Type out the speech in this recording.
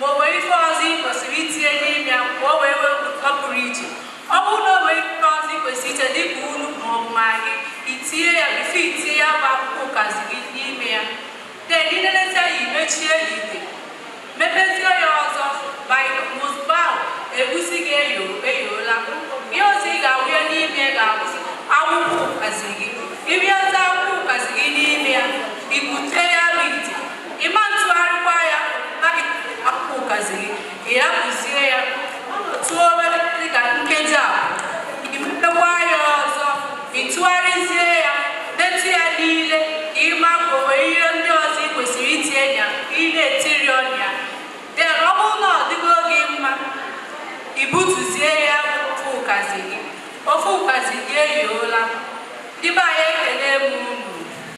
ma o nwere ife ọzọ ị kwesịrị itinye n'ime ka o wee nwee ụtọ pụrụ iche ọ bụrụ na o nwere ife ọzọ ị kwesịrị itinye dịka nnu ma ọ bụ maggi i tinye ya bifọ i tinye ya bụ akwụkwọ ụkazi gị n'ime ya den inenezi ya i mechie ya ite mepezie ya ọzọ ma ozugbo ahụ egusi gị eyo eyiola ihe ọzọ ị ga-awụnye n'ime ya ga-abụzi akwụkwọ ụkazi gị ịbịazi akwụkwọ ụkazi gị n'ime ya i bute ya bụ ite ịma ntụgharịkwa ya na gị akwụkwọ ụkazi gị ị hapụzie ya tụọ obere dị ka nkeji a i mepekwa ya ọzọ ị tụgharịzie ya detụ ya n'ile ka ị ma ka o nwere ihe ndị ọzọ ị kwesịrị itinye ya ka ị na-etiri ọnụ ya den ọ bụrụ na ọ dịgo gị mma i butuzie ya ofe ụkazi gị ofe ụkazi gị eyiola ndị be anyị ekele m unu